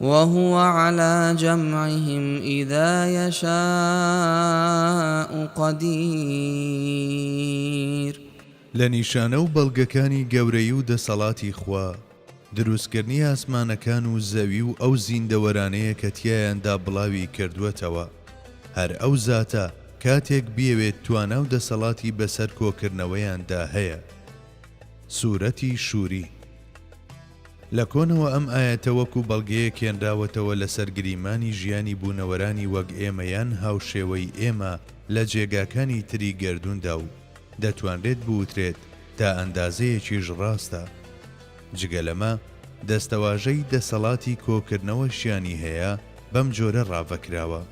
وهو علی جمعهم اذا یشاء قدیر. لە نیشانە و بەڵگەکانی گەورەی و دەسەڵاتی خوا، دروستکردنی ئاسمانەکان و زەوی و ئەو زیندەوەرانەیە کە تیایاندا بڵاوی کردووەتەوە. هەر ئەو زاتە کاتێک بیەوێت توانا و دەسەڵاتی بەسەر کۆکردنەوەیاندا هەیە. سورەتی شوری. لە کۆنەوە ئەم ئایەتە وەکو بەڵگەیەک هێنراوەتەوە لەسەر گریمانی ژیانی بوونەوەرانی وەک ئێمە یان هاوشێوەی ئێمە لە جێگاکانی تری گەردووندا و دەتوانرێت بوترێت تا ئەندازەیەکیش ڕاستە. جگە لەمە دەستەواژەی دەسەڵاتی کۆکردنەوەشیانی هەیە بەم جۆرە ڕاڤەکراوە.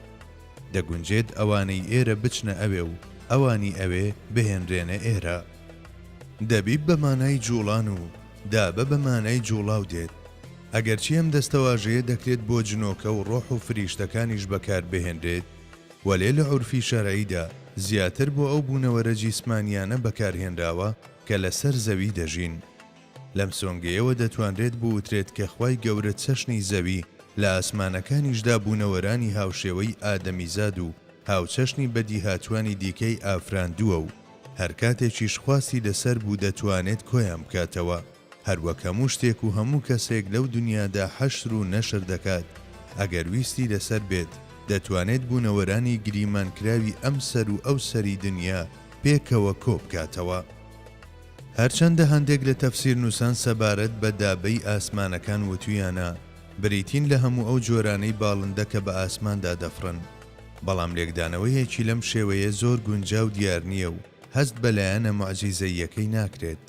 دەگونجێت ئەوانەی ئێرە بچنە ئەوێ و ئەوانی ئەوێ بهێنرێنە ئێرە. دەبی بە مانای جووڵان و دابە بە مانای جوڵاو دێت، ئەگەرچی ئەم دەستەواژەیە دەکرێت بۆ جنۆکە و ڕۆح و فریشتەکانیش بەکار بهێنرێت، وەلێ لە عورفی شەرعیدا زیاتر بۆ ئەو بوونەوەرە جیسمانییانە بەکار هێنراوە کە لە سەر زەوی دەژین. لەم سۆنگەیەوە دەتوانرێت بوترێت کە خوای گەورە چەشنی زەوی لە ئاسمانەکانیشدا بوونەوەرانی هاوشێوەی ئادەمیزاد و هاوچەشنی بەدیهاتووانی دیکەی ئافراندووە و هەر کاتێکیش خواستی لەسەر بوو دەتوانێت کۆیان بکاتەوە، هەروەک هەموو شتێک و هەموو کەسێک لەو دونیادا حەشر و نەشر دەکات، ئەگەر ویستی لەسەر بێت دەتوانێت بوونەوەرانی گریمانکراوی ئەم سەر و ئەو سەری دونیا پێکەوە کۆ بکاتەوە. هەرچەندە هەندێک لە تەفسیرنووسان سەبارەت بە دابەی ئاسمانەکان وتویانە بریتین لە هەموو ئەو جۆرانەی باڵندە کە بە ئاسماندا دەفڕن، بەڵام لێکدانەوەیەکی لەم شێوەیە زۆر گونجاو دیار نییە و هەست بە لایەنە موعجیزەییەکەی ناکرێت.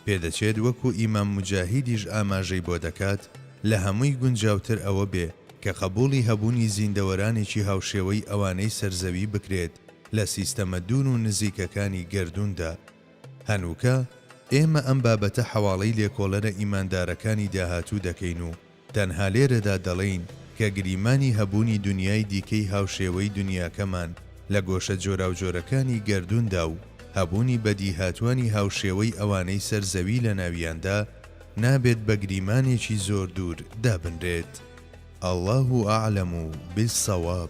پێدەچێت وەکو ئیمام موجاهیدیش ئاماژەی بۆ دەکات، لە هەمووی گونجاوتر ئەوە بێ کە قەبووڵی هەبوونی زیندەوەرانێکی هاوشێوەی ئەوانەی سەر زەوی بکرێت لە سیستەمە دوور و نزیکەکانی گەردووندا. هەنووکە ئێمە ئەم بابەتە حەواڵەی لێکۆڵەرە ئیماندارەکانی داهاتوو دەکەین و، تەنها لێرەدا دەڵێین کە گریمانی هەبوونی دونیای دیکەی هاوشێوەی دونیاکەمان لە گۆشە جۆراوجۆرەکانی گەردووندا و هەبوونی بەدیهاتووانی هاوشێوەی ئەوانەی سەر زەوی لەناویاندا نابێت بە گریمانێکی زۆر دوور دابنرێت. اللە اعلم بالصواب.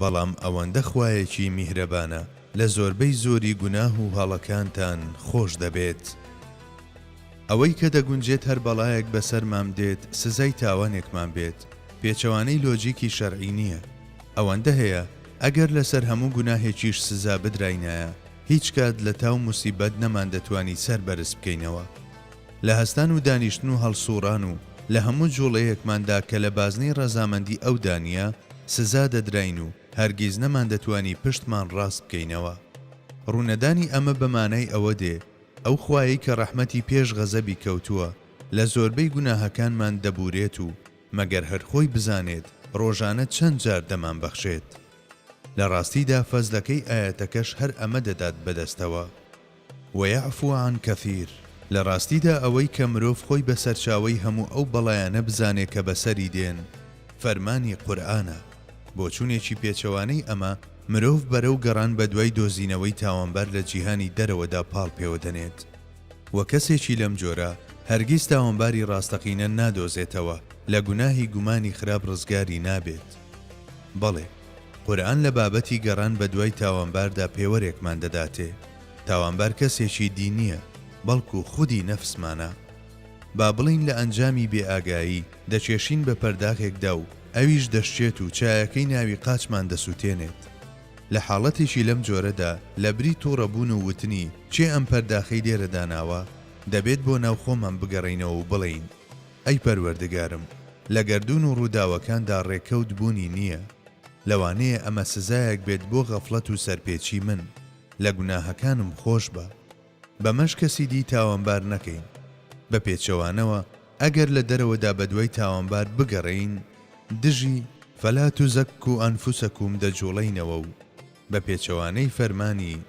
بەڵام ئەوەندە خوایەکی میهرەبانە لە زۆربەی زۆری گوناه و هەڵەکانتان خۆش دەبێت. ئەوەی کە دەگونجێت هەر بەڵایەک بەسەرمام دێت سزای تاوانێکمان بێت پێچەوانەی لۆجیکی شەرعی نییە. ئەوەندە هەیە ئەگەر لەسەر هەموو گوناهێکیش سزا بدراینایە هیچ کات لە تاو موسیبەت نەماندەتوانی سەر بەرز بکەینەوە. لە هەستان و دانیشتن و هەڵسووڕان و لە هەموو جووڵەیەکماندا کە لە بازنەی ڕەزامەندی ئەودا نییە، سزا دەدراین و هەرگیز نەماندەتوانی پشتمان ڕاست بکەینەوە. ڕوونەدانی ئەمە بە مانای ئەوە دێ، ئەو خوایەی کە ڕەحمەتی پێش غەزەبی کەوتووە، لە زۆربەی گوناهەکانمان دەبوورێت و مەگەر هەر خۆی بزانێت ڕۆژانە چەند جار دەمانبەخشێت. لە ڕاستیدا فەزلەکەی ئایەتەکەش هەر ئەمە دەدات بەدەستەوە. ویعفو عن کثیر، لە ڕاستیدا ئەوەی کە مرۆڤ خۆی بە سەرچاوەی هەموو ئەو بەڵایانە بزانێ کە بەسەری دێن، فەرمانی قورئانە. بۆچوونێکی پێچەوانەی ئەمە، مرۆڤ بەرەو گەڕان بە دوای دۆزینەوەی تاوانبار لە جیهانی دەرەوەدا پاڵ پێوە دەنێت. وە کەسێکی لەم جۆرە، هەرگیز تاوانباری ڕاستەقینە نادۆزێتەوە، لە گوناهی گومانی خراپ ڕزگاری نابێت. بەڵێ! قورئان لە بابەتی گەڕان بە دوای تاوانباردا پێوەرێکمان دەداتێ، تاوانبار کەسێکی دی نییە، بەڵکو خودی نەفسمانە. با بڵێین لە ئەنجامی بێ ئاگایی، دەکێشین بە پەرداغێکدا و ئەویش دەشکێت و چایەکەی ناوی قاچمان دەسوتێنێت. لە حاڵەتێکی لەم جۆرەدا، لە بری توڕە بوون و وتنی، کێ ئەم پەرداخەی لێرە داناوە؟ دەبێت بۆ ناو خۆمان بگەڕێینەوە و بڵێین، ئەی پەروەردگارم لە گەردوون و ڕووداوەکاندا ڕێکەوت بوونی نییە، لەوانەیە ئەمە سزایەک بێت بۆ غەفڵەت و سەرپێچی من، لە گوناهەکانم خۆشبە. بەمەش کەسی دی تاوانبار نەکەین. بە پێچەوانەوە ئەگەر لە دەرەوەدا بەدوای تاوانبار بگەڕێین، دژی، فلا تزکوا انفسکم، دەجوڵێینەوە و، بە پێچەوانەی فەرمانی،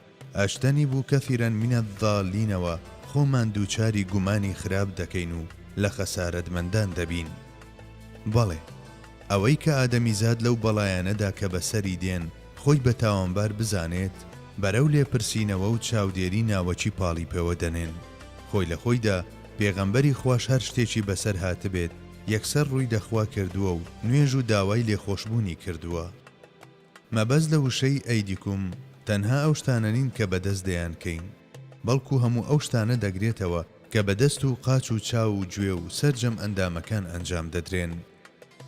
اجتنبوا کثیرا من الضالینەوە خۆمان دووچاری گومانی خراپ دەکەین و لە خەسارەتمەندان دەبین. بەڵێ، ئەوەی کە ئادەمیزاد لەو بەڵایانەدا کە بەسەری دێن خۆی بە تاوانبار بزانێت، بەرەو لێپرسینەوە و چاودێری ناوەکی پاڵی پێوە دەنێن. خۆی لە خۆیدا پێغەمبەری خواش هەر شتێکی بەسەر هاتبێت یەکسەر ڕووی لە خوا کردووە و نوێژ و داوای لێخۆشبوونی کردووە. مەبەست لە وشەی ئەیدیکوم تەنها ئەو شتانە نین کە بە دەست دەیانکەین، بەڵکو هەموو ئەو شتانە دەگرێتەوە کە بە دەست و قاچ و چاو و گوێ و سەرجەم ئەندامەکان ئەنجام دەدرێن.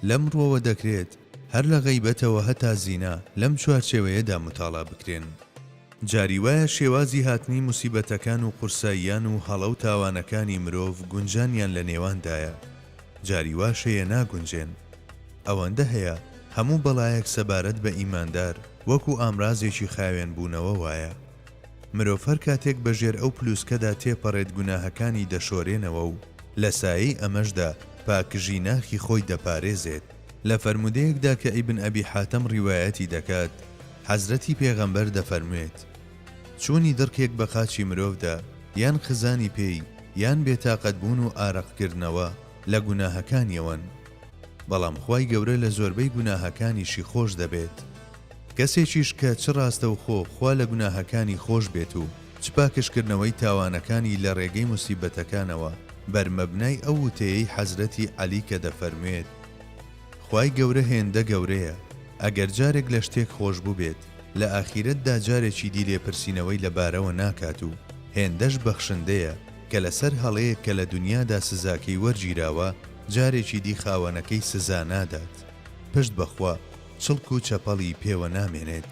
لەم ڕووەوە دەکرێت هەر لە غەیبەتەوە هەتا زینا لەم چوارچێوەیەدا متاڵا بکرێن. جاری وایە شێوازی هاتنی موسیبەتەکان و قورساییان و هەڵە و تاوانەکانی مرۆڤ گونجانیان لە نێواندایە، جاری واش هەیە ناگونجێن. ئەوەندە هەیە هەموو بەڵایەک سەبارەت بە ئیماندار وەکو ئامرازێکی خاوێن بوونەوە وایە. مرۆڤ هەر کاتێک بە ژێر ئەو پلووسکەدا تێپەڕێت گوناهەکانی دەشۆرێنەوە و لە سایەی ئەمەشدا پاکژی ناخی خۆی دەپارێزێت. لە فەرموودەیەکدا کە ئیبن ئەبی حاتەم ڕیوایەتی دەکات حەزرەتی پێغەمبەر دەفەرموێت، چوونی دڕکێک بە قاچی مرۆڤدا یان خزانی پێی یان بێتاقەت بوون و ئارەق کردنەوە لە گوناهەکانیەوەن بەڵام خوای گەورە لە زۆربەی گوناهەکانیشی خۆش دەبێت کەسێکیش کە چ ڕاستەوخۆ خوا لە گوناهەکانی خۆش بێت و چ پاکژکردنەوەی تاوانەکانی لە رێگەی موسیبەتەکانەوە، بەر مەبنای ئەو وتەیەی حەزرەتی عەلی کە دەفەرموێت، خوای گەورە هێندە گەورەیە، ئەگەر جارێک لە شتێک خۆشبوبێت، لە ئاخیرەتدا جارێکی دی لێپرسینەوەی لە بارەوە ناکات و هێندەش بەخشندەیە کە لە سەر هەڵەیەک کە لە دونیادا سزاکەی وەرگیراوە، جارێکی دی خاوەنەکەی سزا نادات، پشت بە خوا چڵک و چەپەڵی پێوە نامێنێت.